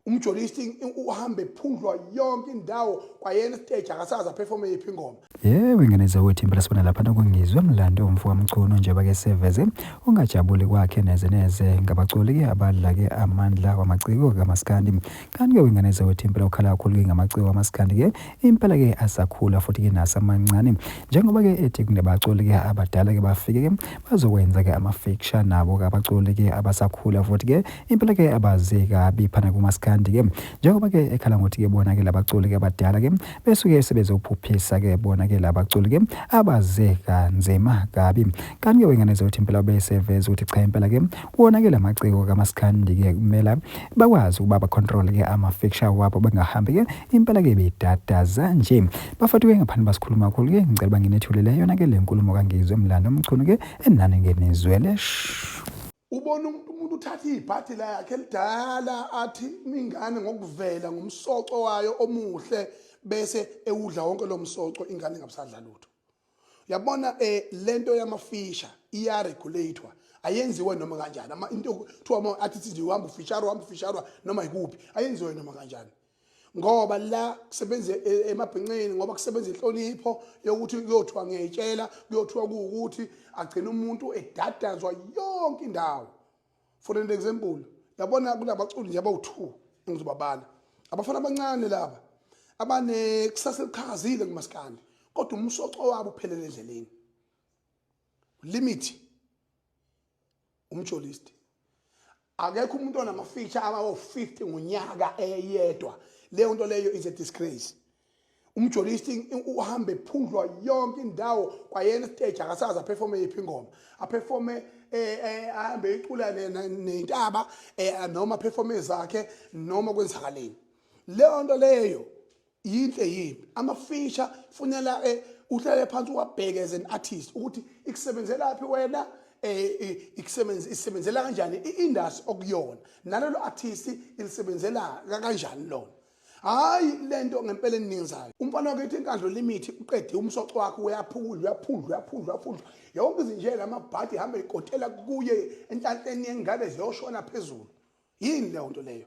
umjolisti uhamba ephundlwa yonke indawo kwayena stage akasazi aphefome yiphi ingoma yebo ingeneza wethu impela sibona lapha nokungizwe mlando umfo kamchunu njengoba ke seveze ungajabuli kwakhe neze neze ngabaculi ke abadla ke amandla wamaciko kamaskandi kanti ke ingeneza wethu impela ukhala kakhulu ke ngamaciko kamaskandi ke Impela ke asakhula futhi ke nasamancane njengoba ke ethi kunabaculi ke abadala ke bafike ke bazokwenza ke ama feature nabo ke abaculi ke abasakhula futhi ke impela ke abazi kabi phana kumaskandi ke njengoba ke ekhala ngothi ke bona ke labaculi ke abadala ke besuke sebezophuphisa ke bona ke labaculi ke abaze kanzima kabi kanti ke wengane zothi impela beseveza ukuthi cha impela ke wona ke lamaciko kamaskandi ke kumela bakwazi ukuba ba control ke ama feature wabo bengahambi ke impela ke bidadaza nje bafati ke ngaphandle basikhuluma kakhulu ke ngicela banginethulele yona ke le nkulumo kangizwe mlando omchunu ke enani ngenizwele ubona umuntu umuntu uthatha ibhadi lakhe elidala athi ingane ngokuvela ngomsoco wayo omuhle bese ewudla wonke lo msoco ingane ngabusadla lutho yabona eh lento yamafisha iya regulator ayenziwe noma kanjani ama into kuthiwa uma athi sithi uhamba ufisharwa uhamba ufisharwa noma ikuphi ayenziwe noma kanjani ngoba la kusebenza e, emabhinqeni ngoba kusebenza inhlonipho yokuthi kuyothiwa ngiyayitshela kuyothiwa kuwukuthi agcina umuntu edadazwa yonke indawo for an example yabona kunabaculi nje abawu-two engizobabala abafana abancane laba abanekusasa eliqhakazile kumaskandi kodwa umsoco wabo uphelele endleleni limit umjolisti akekho umuntu onamafeature abawo-50 ngonyaka eyedwa leyo nto leyo is a disgrace umjolisti uhambe phundlwa yonke indawo kwayena stage akasazi aperforme yiphi ingoma aperforme eh, eh, ahambe icula nentaba eh, noma aperforme zakhe noma kwenzakaleni leyo nto leyo yinhle yini amafisha funela uhlale phansi uwabheke as an artist ukuthi ikusebenzelaphi wena eh ikusebenzisa isebenzela kanjani iindustry okuyona nalelo artist ilisebenzela kanjani lona hayi le nto ngempela eningizayo umfana wakhe ethi inkandlo limithi uqede umsoco wakhe uyaphundla uyaphundla uyaphundla uyaphundla yonke izinjela amabhadi hambe ikotela kuye enhlanhleni yengane ziyoshona phezulu yini leyo nto leyo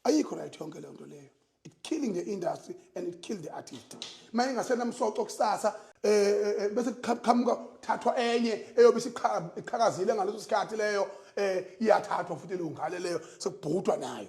ayikho right yonke leyo nto leyo it killing the industry and it killed the artist uma ingasenamsoco kusasa um eh, eh, bese kuqhamuka thathwa enye eyobe isiqhakazile ngaleso sikhathi leyo um iyathathwa futhi leyo ngane leyo sekubhutwa nayo